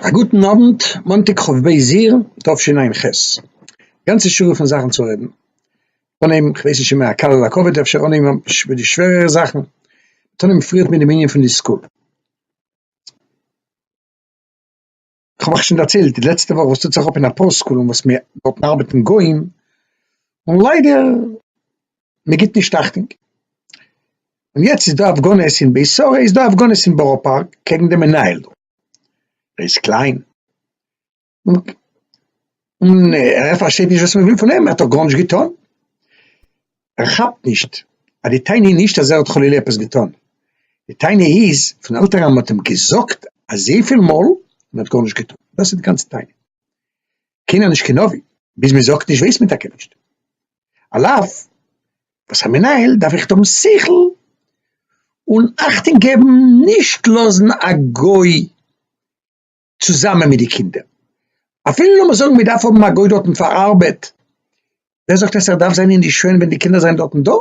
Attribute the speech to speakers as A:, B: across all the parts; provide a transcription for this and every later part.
A: א גוטן אוונט, מאנטאג כ' באייר תשע ע ח, גאנצע שורה פון זאכן צו רעדן, אנהייבן, כ'ווייס נישט צו מען קל אדער כבד, אפשר אנהייבן מיט די שווערערע זאכן, מ'טאר נעמען פריערט מיט דעם ענין פון די סקול. כ'האב אייך שוין דערציילט די לעצטע וואך וואס טוט זיך אפ אין אפאר סקולען וואס מיר דארטן ארבעטן גוים, און ליידער מען גיבט נישט אכטונג. און יעצט איז דא הפגנות אין בית שרה איז דא הפגנות אין בארא פארק קעגן די מנהל דא, ר' קליין, און ער פארשטייט נישט וואס מען וויל פון אים, ער האט דאך גארנישט געטון. ער כאפט נישט אז די טענה איז נישט אז ער האט חלילה עפעס געטון, די טענה איז פון עלטערן מ'האט אים געזאגט אזויפיל מאל און ער האט גארנישט געטון, דאס איז די גאנצע טענה, קיינער נישט קיין נביא, ביז מען זאגט נישט ווייסט מען טאקע נישט, על אף וואס א מנהל דארף עכט האבן שכל און אכטונג געבן נישט לאזן א גוי צוזאמען מיט די קינדער. אפילו לאמיר זאגן מען דארף האבן א גוי דארטן פאר ארבעט, ווער זאגט אז ער דארף זיין אינדערשוין ווען די קינדער זענען דארטן דא?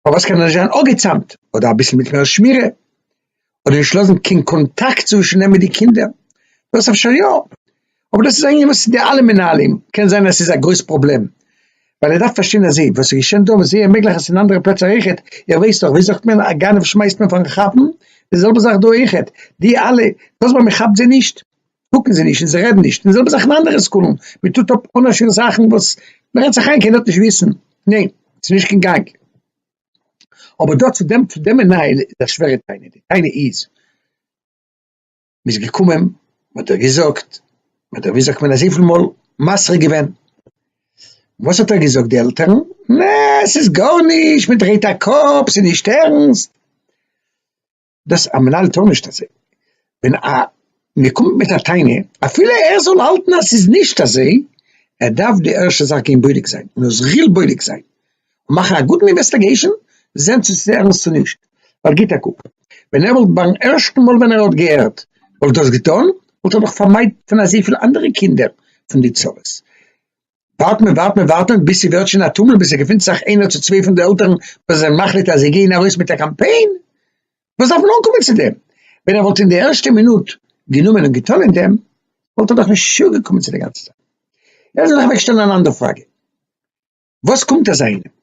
A: פארוואס קען ער נישט זיין אפגעצאמט, אדער אביסל מיט מער שמירה, אדער נישט לאזן קיין קאנטאקט צווישן אים מיט די קינדער? דאס אפשר יא, אבער דאס איז א ענין וואס די אלע מנהלים, קען זיין אז ס'איז א גרויס פראבלעם, ווייל ער דארף פארשטיין אז זיי וואס איז געשען דא וואס זייער מעגליך אז ס'איז אין אנדערע פלעצער אויכעט, איר ווייסט דאך ווי זאגט מען א גנב שמייסט מען פארן כאפן, די זעלבע זאך דא אויכעט, די אלע דאס ווייל מען כאפט זיי נישט קוקן זיי נישט און זיי רעדן נישט, די זעלבע זאך אין אנדערע סקולן, מען טוט אפ אן א שיעור זאכן וואס מען רעדט זיך איין קיינער וועט נישט וויסן, ניין ס'איז נישט קיין גאנג. אבער דא צו דעם צו דעם מנהל איז א שווערע תענית, די תענית איז. מ'איז געקומען, מ'האט דיר געזאגט, מ'האט דיר ווי זאגט מען אזויפיל מאל מסרה געווען, וואס האט ער געזאגט די עלטערן, נע ס'איז גארנישט, מ'דרייט א קאפ, ס'איז נישט ערנסט, דאס א מנהל טאר נישט אזוי, ווען א מ'קומט מיט א טענה, אפילו ער זאל האלטן אז ס'איז נישט אזוי, ער דארף די ערשטע זאך גיין בודק זיין, און ער זאל בודק זיין. מאכן א גוטן אינוועסטעגעישן זען צו ס'איז ערנסט צו נישט, ווייל גיט א קוק, ווען ער וואלט ביים ערשטן מאל ווען ער האט געהערט וואלט דאס געטון, וואלט ער דאך פארמיידט פון אזויפיל אנדערע קינדער פון די צרות. ווארט מען ווארט מען ווארט מען ביז ס'ווערט שוין א טומל ביז ס'געפינט זיך איינער צו צוויי פון די עלטערן וואס זענען מחליט אז זיי גייען ארויס מיט א קאמפיין, וואס דארף מען אנקומען צו דעם? ווען ער וואלט אין די ערשטע מינוט גענומען און געטון אין דעם וואלט ער דאך נישט צוגעקומען צו די גאנצע זאך. יעצט וויל איך אוועקשטעלן אן אנדער פראגע. וואס קומט אזא איינעם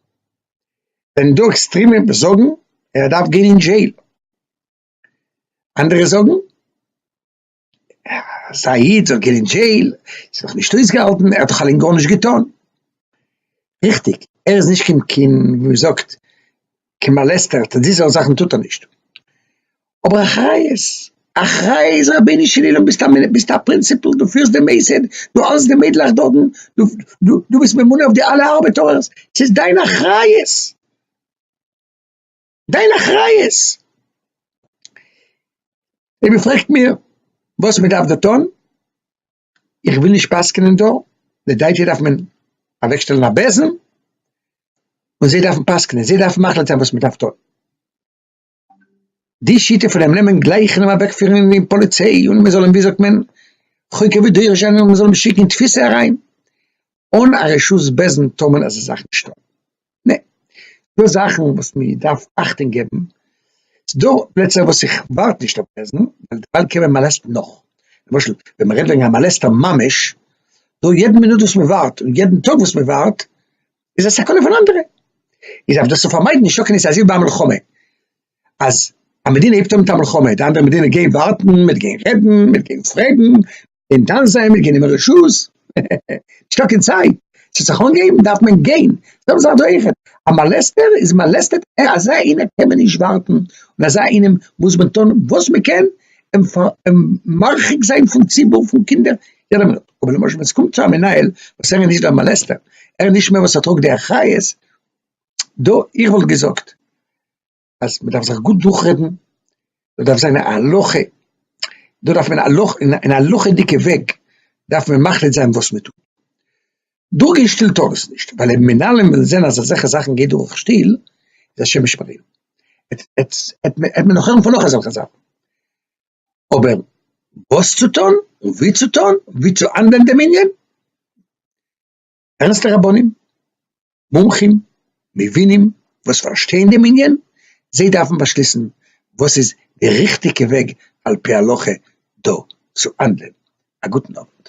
A: ווען דא עקסטרימע וואס זאגן ער דארף גיין אין דזשעיל, אנדערע זאגן אז א איד זאל גיין אין דזשעיל איז נאך נישט אויסגעהאלטן, ער האט דאך אליין גארנישט געטון, ריכטיג ער איז נישט קיין קיין ווי מ'זאגט קיין מאלעסטער, די זארט זאכן טוט ער נישט, אבער אחריות, אחראי איז רבונו של עולם, ביסט א מנהל, ביסט א פרינסיפל, דו פירסט די מוסד, דו האלסט די מיידלעך דארטן, דו, דו, דו ביסט ממונה אויף די אלע ארבעטארערס, ס'איז דיין אחריות, דיין אחריות, אויב איר פרעגט מיר וואס מ'דארף דא טון. איך וויל נישט פסק'נען דא, די דייטשע דארף מען אוועקשטעלן א בעזעם, און זיי דארפן פסק'נען, זיי דארפן מחליט זיין וואס מ'דארף טון. די שיטה פון אים נעמען גלייך און אים אוועקפירן אין די פאליציי און מ'זאל אים ווי זאגט מען, חוקר ודורש'ען און מ'זאל אים שיקן אין תפיסה אריין, אן א רשות בעזעם טאר מען אזא זאך נישט טון. נע, דא זאכן וואס מען דארף אכטונג געבן, ס'דא פלעצער וואס איך ווארט נישט אויף בעסטן, ווייל דערווייל קען מען מאלעסטן נאך, למשל ווען מען רעדט וועגן א מאלעסטער ממש, דא יעדן מינוט וואס מען ווארט און יעדן טאג וואס מען ווארט איז א סכנה פון אנדערע, איז אויף דאס צו פארמיידן נישט טאקען איז אזוי ווי ביי א מלחמה, אז א מדינה הייבט אן מיט א מלחמה, די אנדערע מדינה גייען ווארטן, מען וועט גיין רעדן, מען וועט גיין פרעגן. און דאן זעמיר גענומען רשות, הע הע הע, נישטא קיין צייט, צו זיך אנגעבן דארף מען גיין, זעלבע זאך דא אויכעט, א מאלעסטער איז מאלעסטעט, אזא איינער קען מען נישט ווארטן, און אזא איינעם מוז מען טון וואס מען קען אים אים מרחיק זיין פון ציבור פון קינדער יעדע מינוט, אבער למשל ווען עס קומט צו א מנהל וואס ער איז נישט דער מאלעסטער, ער איז נישט מען וואס ער טראגט די אחריות, דא איך וואלט געזאגט. אז מ'דארף זיך גוט דורכרעדן, מ'דארף זיין א הלכה, דא דארף מען הלכ אין א הלכה'דיגע וועג דארף מען מחליט זיין וואס מען טוט, דורך גיין שטיל טאר עס נישט, ווייל אויב מנהלים וועלן זען אז אזעלכע זאכן גייט דורך שטיל, איז השם ישמרינו, העט מען נאך הערן פון נאך אזעלכע זאכן, אבער וואס צו טון און ווי צו טון, ווי צו האנדלען דעם ענין, ערנסטע רבנים, מומחים, מבינים וואס פארשטייען דעם ענין, זיי דארפן באשליסן וואס איז די ריכטיגע וועג על פי הלכה דא צו האנדלען. א גוטן אוונט.